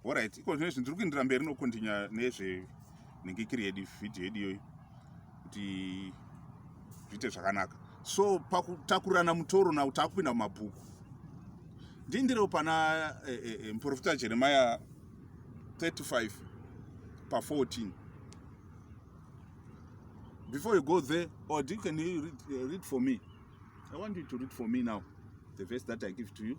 Alright, iko zvino izvi ndiri kuindira mberi nokontinya nezve nenge kiri yedu vhidhiyo yedu iyoyi kuti zviite zvakanaka. So pakutakurirana mutoro now takupinda mumabhuku. Ndiindirewo pana e, e, e, muprofita Jeremiah 35 pa 14. Before you go there, or do you can you read, uh, read for me? I want you to read for me now the verse that I give to you.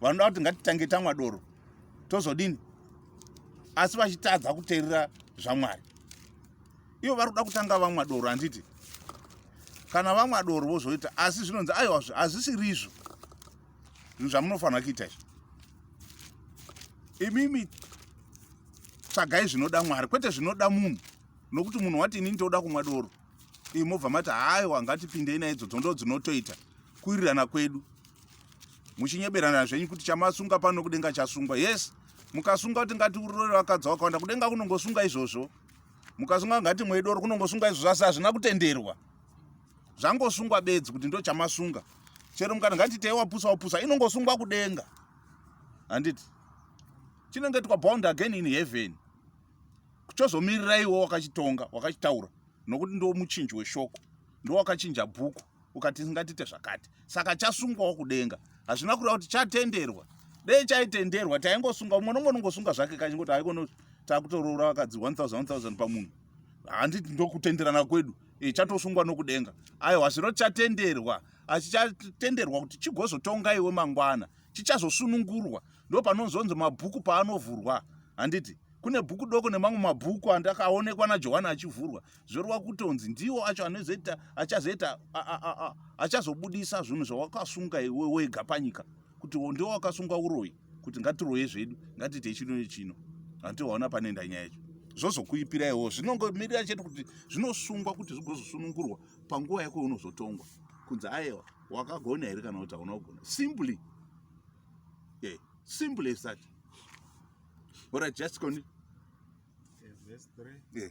vanoda kuti ngatitange tamwa doro tozodini asi vachitadza kuteerera zvamwari ivo vari kuda kutanga vamwa doro handiti kana vamwa doro vozoita asi zvinonzi aiwa hazvisirizvo zvinhu zvamunofanira kuita izvo imimi tsvagai zvinoda mwari kwete zvinoda munhu nokuti munhu wati inini toda kumwa doro imobva mati haiwa ngatipindei naidzo dzondo dzinotoita kuirirana kwedu muchinyeberana zvenyu kuti chamasunga pano kudenga chasungwa yes mukasunga kuti ngati urore vakadzi vakawanda kudenga kunongosunga izvozvo mukasunga ngati mwedoro kunongosunga izvozvo asi hazvina kutenderwa zvangosungwa bedzi kuti ndo chamasunga chero mukati ngati tei wapusa wapusa inongosungwa kudenga handiti chinenge twa bound again in heaven kuchozomiriraiwo wakachitonga wakachitaura nokuti ndo muchinji weshoko ndowakachinja bhuku ukati tingatiite zvakati saka chasungwawo kudenga hazvina kureva kuti chatenderwa dei chaitenderwa taingosunga umwe nomwe unongosunga zvake kachingoti haikono takutoroora vakadzi 1000 pamunhu handiti ndokutenderana kwedu e, chatosungwa nokudenga aiwa zvino chatenderwa achichatenderwa kuti chigozotonga iwe mangwana chichazosunungurwa ndo panozonzi mabhuku paanovhurwa handiti kune bhuku doko nemamwe mabhuku andakaonekwa najohani achivhurwa zvorwa kutonzi ndiwo acho anozoita achazoita achazobudisa zvinhu zvawakasunga iwe wega panyika kuti ndiwo wakasunga uroyi kuti ngatiroye zvedu ngatiite chino nechino handiwaona panenda nyaya yacho zvozokuipira iwo zvinongomirira chete kuti zvinosungwa kuti zvigozosunungurwa panguva yako unozotongwa kunzi ayewa wakagona here kana kuti hauna kugona simply yeah. simple as that orit just continue yeah, verse 3. Yeah.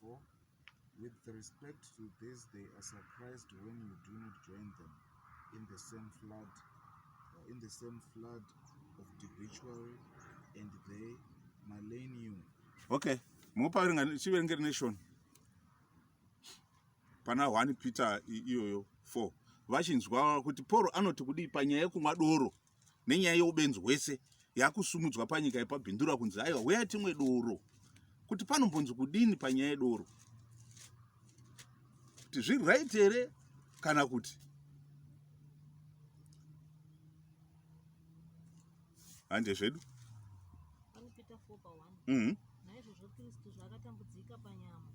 For, with respect to these, they are surprised when you do not join them in the same flood, uh, in the same flood of debauchery, and they malign you. Okay, mupaverenga chiverenge nation pana one Peter iyoyo 4 vachinzwa kuti Paul anoti kudii panyaya yekumwa doro nenyaya yeubenzi hwese yakusumudzwa panyika yepabhindura kunzi aiwa huya timwe doro kuti panombonzi kudini panyaya yedoro kuti zviri right here kana kuti hande zvedu mm -hmm. Naizvozvo Kristu zvaakatambudzika panyama.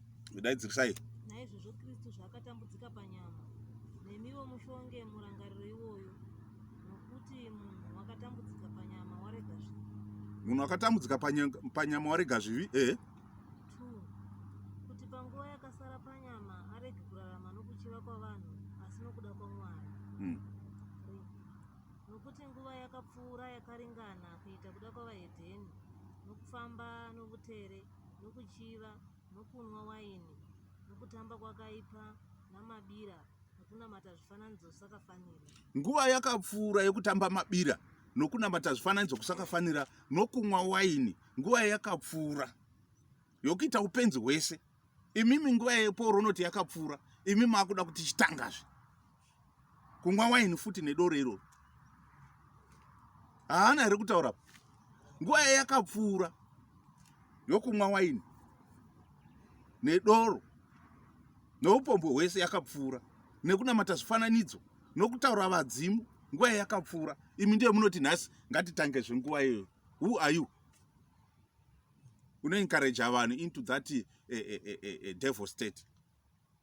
Daidzirisai. Naizvozvo Kristu zvaakatambudzika panyama. Nemiwo mushonge murangariro iwoyo. Nokuti munhu wakatambudzika panyama warega zvivi. Munhu wakatambudzika panyama warega zvivi? Eh. Kuti panguva yakasara panyama arege kurarama nokuchiva kwavanhu asi nokuda kwaMwari. Hmm. Nokuti nguva yakapfuura yakaringana kuita kuda kwavahedheni, nokufamba novutere, nokuchiva, nokunwa waini, nokutamba kwakaipa, namabira, nokunamata zvifananidzo zvisakafanira. Nguva yakapfuura yokutamba mabira, nokunamata zvifananidzo kusakafanira, nokunwa waini, nguva yakapfuura yokuita upenzi hwese. Imimi nguva yePauro unoti yakapfuura, imi makuda kuti chitangazve. kumwa waini futi nedoro iroro haana here kutaura nguva yaye yakapfuura yokumwa waini nedoro noupombwe hwese yakapfuura nekunamata zvifananidzo nokutaura vadzimu nguva yaye yakapfuura imi ndiye munoti nhasi ngatitange zvenguva iyoyo who are you unoencouraja vanhu into that eh, eh, eh, devil state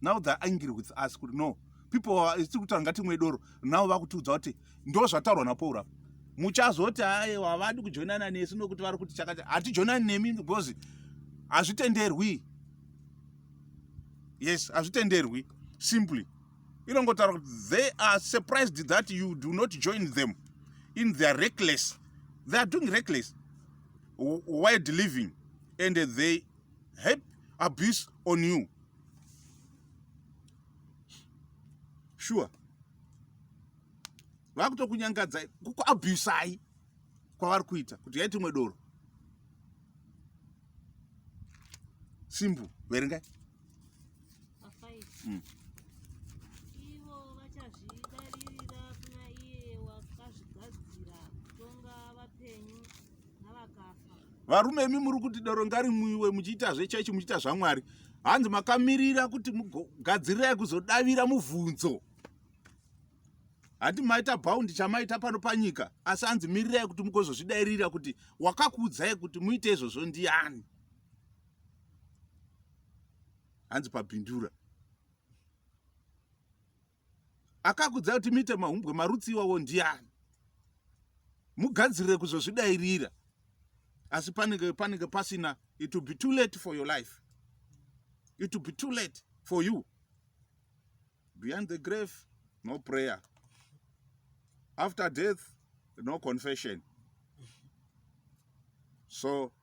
now they're angry with us kuti no people tiri kutaura ngatimwe doro now vakutiudza kuti ndo zvataurwa napaul apa muchazoti aye havadi kujoinana nesu nokuti vari kuti chakati hatijoinani nemi because hazvitenderwi yes hazvitenderwi simply inongotaura kuti they are surprised that you do not join them in their reckless they are doing reckless wild living and they Hep abuse on you. Sure. Vakutokunyangadzai, kukuabusai kwavari kuita kuti yaiti imwe doro. Simple, verengai. mm. ivo vachazvidaririra kuna iye wakazvigadzira kutonga vapenyu navakafa varume imi muri kuti doro ngarimwiwe muchiita zvechechi muchiita zvamwari hanzi makamirira kuti mugadzirirai kuzodavira mubvunzo hati maita bhaundi chamaita pano panyika asi hanzi mirirai kuti mugozozvidairira kuti wakakuudzai kuti muite izvozvo ndiani hanzi pabindura akakudza kuti muite mahumbwe marutsi iwawo ndiani mugadzirire kuzozvidairira asi panenge panenge pasina it will be too late for your life it will be too late for you behind the grave no prayer after death no confession so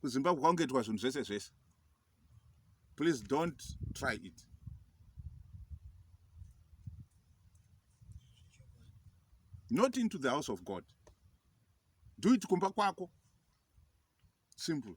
kuzimbabwe kwakungetwa zvinhu zvese zvese please don't try it not into the house of god do it kumba kwako simple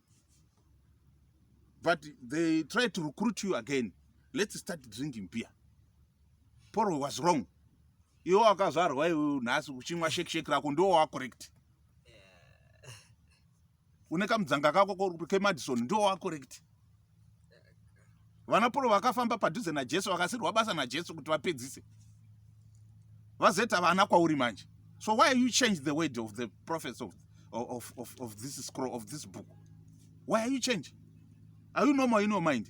but they try to recruit you again let's start drinking beer poro was wrong iwe wakazvarwa iwe nhasi uchimwa shekisheki rako ndiwo wacorrect une kamudzanga kako kemadison ndiwo wacorrect vana polo vakafamba padhuze najesu vakasirwa basa najesu kuti vapedzise vazoita vana kwauri manje so why you change the word of the prophets of, of, of, of this scroll of this book why are you change are you normal in your mind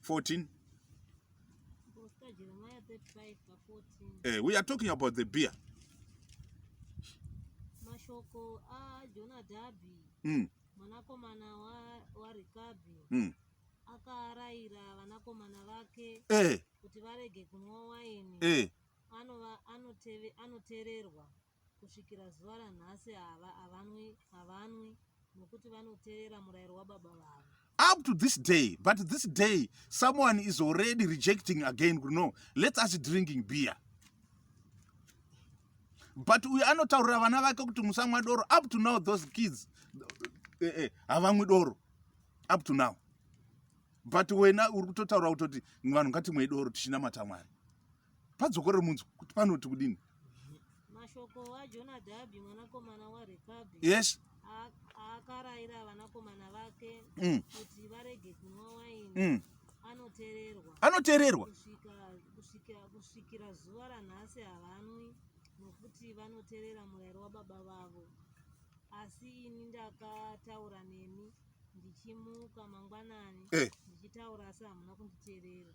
14 eh, we are talking about the beer mashoko ajonadhabhi mm. mwanakomana warikabhi wa mm. akaarayira vanakomana vake eh. kuti varege kunwa waini eh. anova anoteererwa Kusvikira zuva ranhasi ava havanwi, havanwi, nokuti vanoteerera murayiro wababa vavo. up to this day but this day someone is already rejecting again kuti no let's us drinking beer but uyo anotaurira vana vake kuti musamwa doro up to now those kids eh, eh, havamwi doro up to now but wena uri kutotaura kutoti vanhu ngatimwei doro tichinamata mwari padzokorero munzwa kuti panoti kudini mashoko ajonadhabhi mwanakomana warekabi yes akarayira vanakomana vake mm. kuti varege kunwa waini mm. anotererwa anotererwa kusvikira zuva ranhasi havanwi nokuti vanoterera murayiro wababa vavo asi ini ndakataura nemi ndichimuka mangwanani eh. ndichitaura asi hamuna kunditerera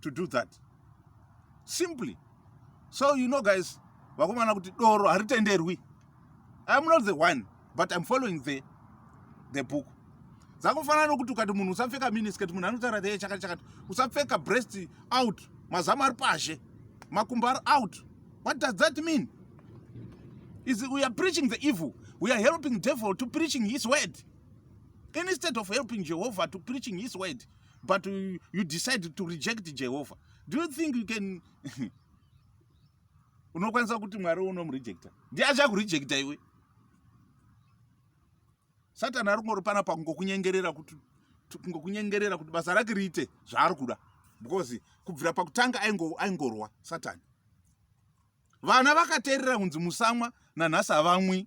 to do that simply so you know guys vakomana kuti doro haritenderwi iam not the one but iam following the, the book dzakufanana nokuti ukati munhu usapfeka minisket munhu anotaura the chakati chakati usapfeka breast out mazamu ari pashe makumbo ari out what does that mean is we are preaching the evil we are helping devil to preaching his word instead of helping jehovah to preaching his word but you decide to reject jehovha do you think you can unokwanisa kuti mwari unomurejecta ndiye achakurejecta iwe satani ari kungori pana pakungokunyengerera kuti kungokunyengerera kuti basa rake riite zvaari kuda because kubvira pakutanga aingorwa satani vana vakateerera kunzi musamwa nanhasi havamwi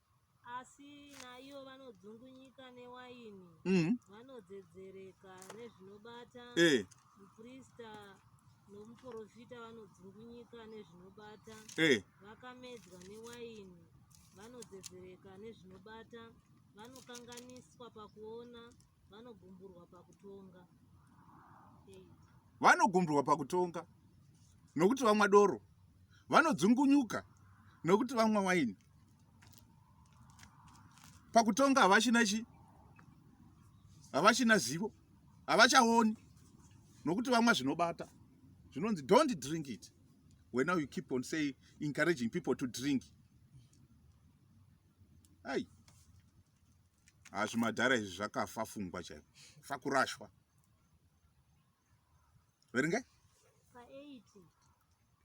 mm. vanodzedzereka nezvinobata hey. Eh. muprista nomuprofita vanodzungunyika nezvinobata hey. Eh. vakamedzwa newaini vanodzedzereka nezvinobata vanokanganiswa pakuona vanogumburwa pakutonga nokuti vamwa doro vanodzungunyuka nokuti vamwa waini pakutonga havachina chi havachina zivo havachaoni nokuti vamwa zvinobata zvinonzi don't drink it when now you keep on saying encouraging people to drink ai hazvimadhara izvi zvakafa fungwa chaivo fakurashwa verengai pa8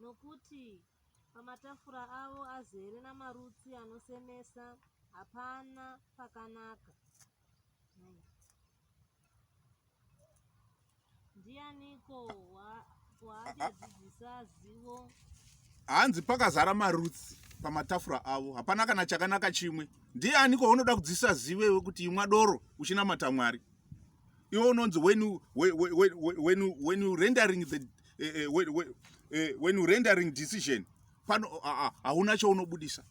nokuti pamatafura avo azere namarutsi anosemesa hapana pakanaka hanzi pakazara marutsi pamatafura avo hapana kana chakanaka chimwe ndiani kwaunoda kudzisa zive wekuti imwa doro uchinamata mwari iwe unonzi when you, when, when, when, you, when you rendering the uh, uh, when, when, uh, when you rendering decision pano hauna uh, uh, chaunobudisa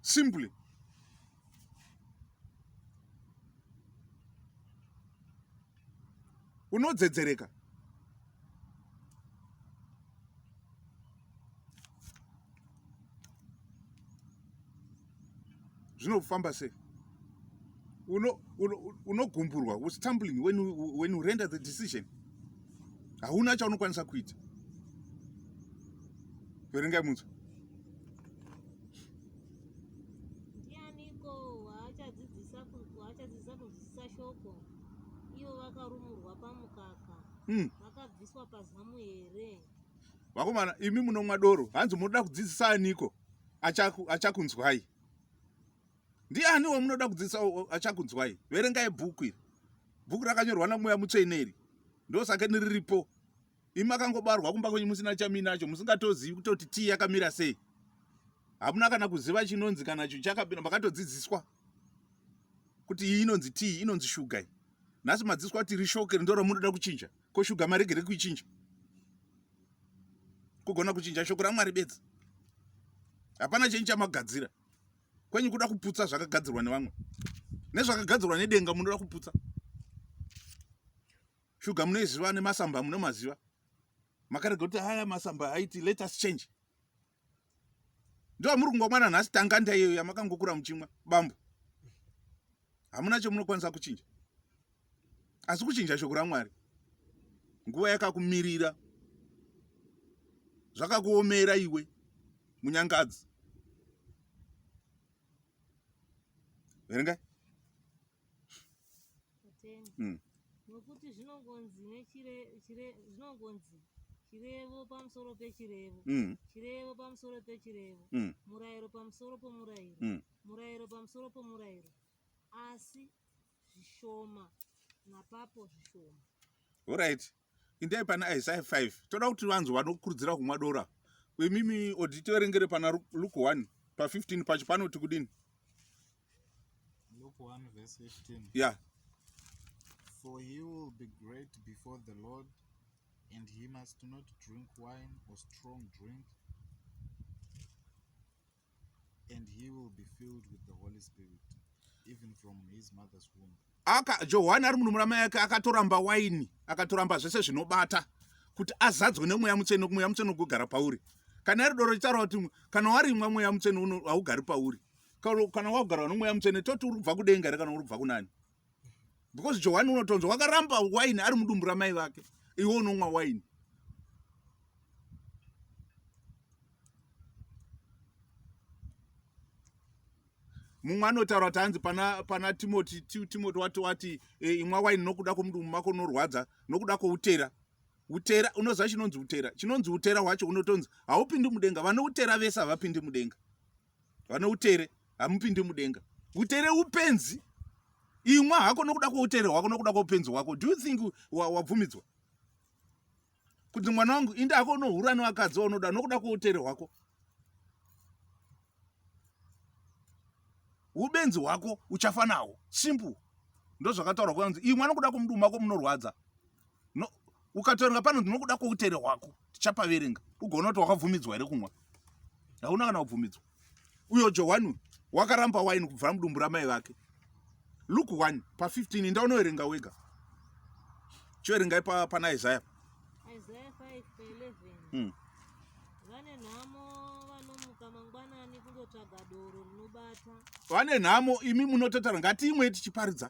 simply unodzedzereka zvinofamba sei unogumburwa uno, uno was tumbling when you, when you render the decision hauna chaunokwanisa kuita verengai munzwa ndianiko waachadzidzisa waachadzidzisa kunzwisisa shoko ivo vakarumurwa pamukaka hmm. vakabviswa pazamu here vakomana imi munomwa doro hanzi munoda kudzidzisa aniko achakunzwai acha ndiani wamunoda kudzidzisa achakunzwai verengai bhuku iri bhuku rakanyorwa namweya mutsvene iri ndosakeni riripo imi makangobarwa kumba kwenyu musina chaminacho musingatozivi kutoti tii yakamira sei hamuna kana kuziva chinonzi kana cho chakabira makatodzidziswa kuti iyi inonzi tii inonzi shuga iyi nhasi madziswa kuti rishoke rindo ramunoda kuchinja ko shuga maregere kuichinja kugona kuchinja shoko ramwari bedzi hapana chenyu chamagadzira kwenyu kuda kuputsa zvakagadzirwa nevamwe nezvakagadzirwa nedenga munoda kuputsa Shuga munoiziva nemasamba munomaziva. Makarega kuti haya masamba aiti let us change. Ndiwa muri kungwa mwana nhasi tanga ndaiyo yamakangokura muchimwa bambo. Hamuna chomunokwanisa kuchinja. Asi kuchinja shoko raMwari. Nguva yakakumirira. Zvakakuomera iwe munyangadzi. Verengai. mm. nokuti zvinongonzi nechire chire zvinongonzi chirevo pamusoro pechirevo mm. chirevo pamusoro pechirevo mm. murayiro pamusoro pomurayiro mm. murayiro pamusoro pomurayiro asi zvishoma napapo zvishoma orit indai pana isaya 5 toda kuti vanzi vanokurudzira kumwa dora imimi odi tiverengere pana luke 1 pa15 pacho panoti kudini ya For he will be great before the Lord, and he must not drink wine or strong drink, And he will be filled with the Holy Spirit, even from his mother's womb. Aka Johani ari munhu muramai yake akatoramba waini, akatoramba zvese zvinobata kuti azadzwe nemweya mutsvene, mweya mutsvene ugogara pauri. Kana iri doro chitaura kuti kana warimwa mweya mutsvene haugari pauri. Kana wagara nemweya mutsvene toti uri kubva kudenga here kana uri kubva kunani? because johani unotonzwa wakaramba waini ari mudumbu ramai vake iwe unomwa waini mumwe anotaura kuti hanzi pana, pana timoti timoti wati wati e, imwa waini nokuda kwomudumbu mako unorwadza nokuda kwoutera utera unoziva chinonzi utera chinonzi utera hwacho unotonzi haupindi mudenga vane utera vese havapindi mudenga vane utere hamupindi mudenga utere upenzi imwa hako nokuda kwoutere hwako nokuda kwoupenzi hwako do you think wabvumidzwa wa kuti mwana wangu inde hako unohura nevakadzi waunoda nokuda kwoutere hwako ubenzi hwako uchafa nawo simple ndozvakataurwa kwanzi imwa nokuda kwomudumako munorwadza no ukatorenga pano ndinokuda koutere hwako tichapaverenga ugoona kuti wakabvumidzwa here kumwa hauna kana kubvumidzwa uyo johani wakaramba waini kubvira mudumbu ramai vake luk 1 pa 15 inda unoverenga wega choverengai pana isaya hmm. vane nhamo vanomuka mangwanani kundotsvaga doro rinobata vane nhamo imi munototaura ngatiimwe tichiparidza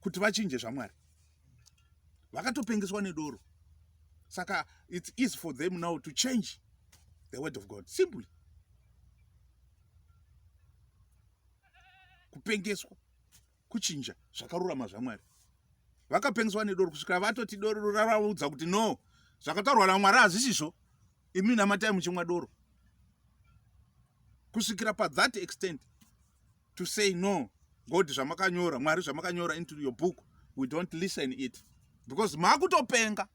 kuti vachinje zvamwari vakatopengeswa nedoro saka it's easy for them now to change the word of god simply kupengeswa kuchinja zvakarurama zvamwari vakapengeswa nedoro kusvikira vatoti doro ravaudza kuti no zvakataurwa namwari hazvisizvo imi namatai muchimwa doro kusvikira pathat extent to say no god zvamakanyora mwari zvamakanyora into your book we don't listen it because makutopenga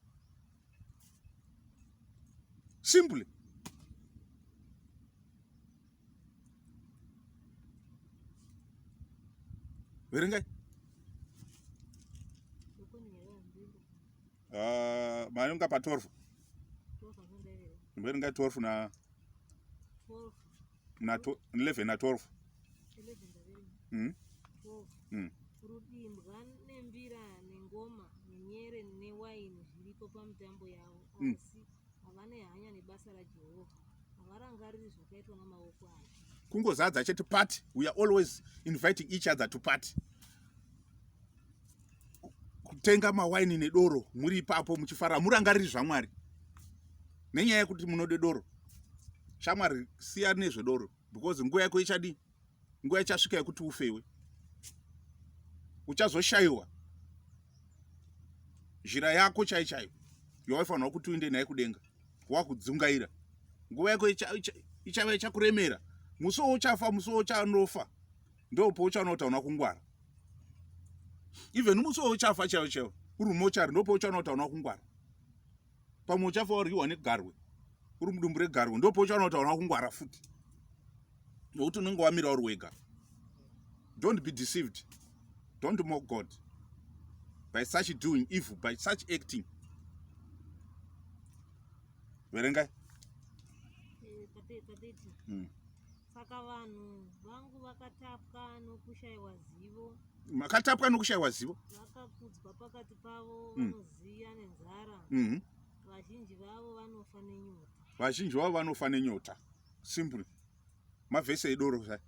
simply verengai ah, mayonga pa 12 verengai 12 na 12 na 11 na 12 mm. Mm. rudimbwa nembira nengoma nenyere newaini zviripo pamutambo yavo mm. asi havane hanya nebasa rajehovha havarangariri zvakaitwa namaoko avo kungozadza chete party we are always inviting each other to party kutenga mawaini nedoro muri ipapo muchifara murangariri zvamwari nenyaya yekuti munode doro shamwari siya nezvedoro because nguva yako ichadii nguva ichasvika yekuti ufewe uchazoshayiwa zhira yako chai chaiyo yawaifanirwa kuti uinde naye kudenga wakudzungaira nguva yako ichava ichakuremera musi wo uchafa musi wo uchanofa ndopouchaona kuti hauna kungwara even musi wauchafa chaiwo chaiwo uri mochari ndopouchaona kuti hauna kungwara pamwe uchafa waryiwa negarwe uri mudumbu regarwe ndopouchaona kuti hauna kungwara futi nokuti unenge wamira uri wega don't be deceived don't mock god by such doing evil by such acting verengai mm. Saka vanhu vangu vakatapwa nokushaiwa zivo. Makatapwa nokushaiwa zivo. Vakakudzwa pakati pavo mm. vanoziya mm. nenzara. Mm -hmm. Vazhinji vavo vanofa nenyota. Vazhinji vavo vanofa nenyota. Simple. Mavhese edoro zvayo.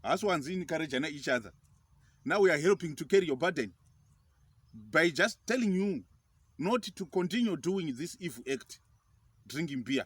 Haasi wanzi inikarejana each other. Now we are helping to carry your burden by just telling you not to continue doing this evil act, drinking beer.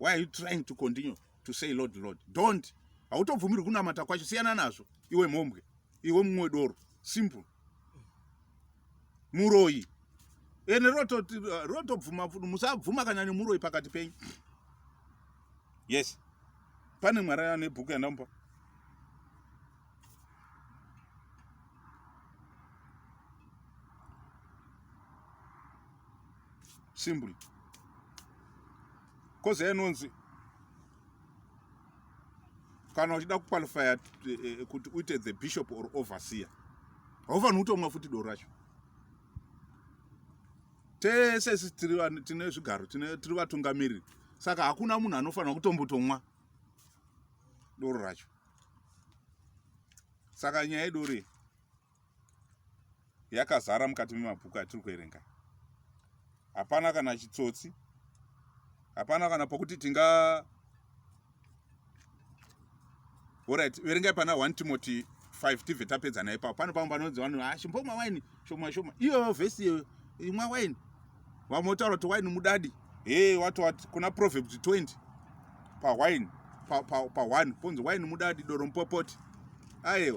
why are you trying to continue to say lord lord don't hautobvumirwi kunamata kwacho siyana nazvo iwe mhombwe iwe mumwe doro simple muroyi ene rotobvuma uh, musabvuma kana nemuroyi pakati penyu yes pane mwari ane bhuku yandamupa simple kozi yainonzi kana uchida kuqualifya eh, eh, kuti uite the bishop or overseer haufanhi kutomwa futi doro racho tese isi tine zvigaro tiri vatungamiriri saka hakuna munhu anofanira kutombotomwa doro racho saka nyaya idori yakazara mukati memabhuku atiri kuerenga hapana kana chitsotsi hapana kana pokuti tinga orit verengai pana 1 timoti 5 tibve tapedza naye pao pano pamwe panonzi vanhu ashimbomwa ah, waini shoma shoma iyoyo vhesi iyoyo imwa waini vamwe votaura kuti waini mudadi he wati wati kuna proverbs 20 pawaini paone ponzi waini mudadi doro mupopoti aiwa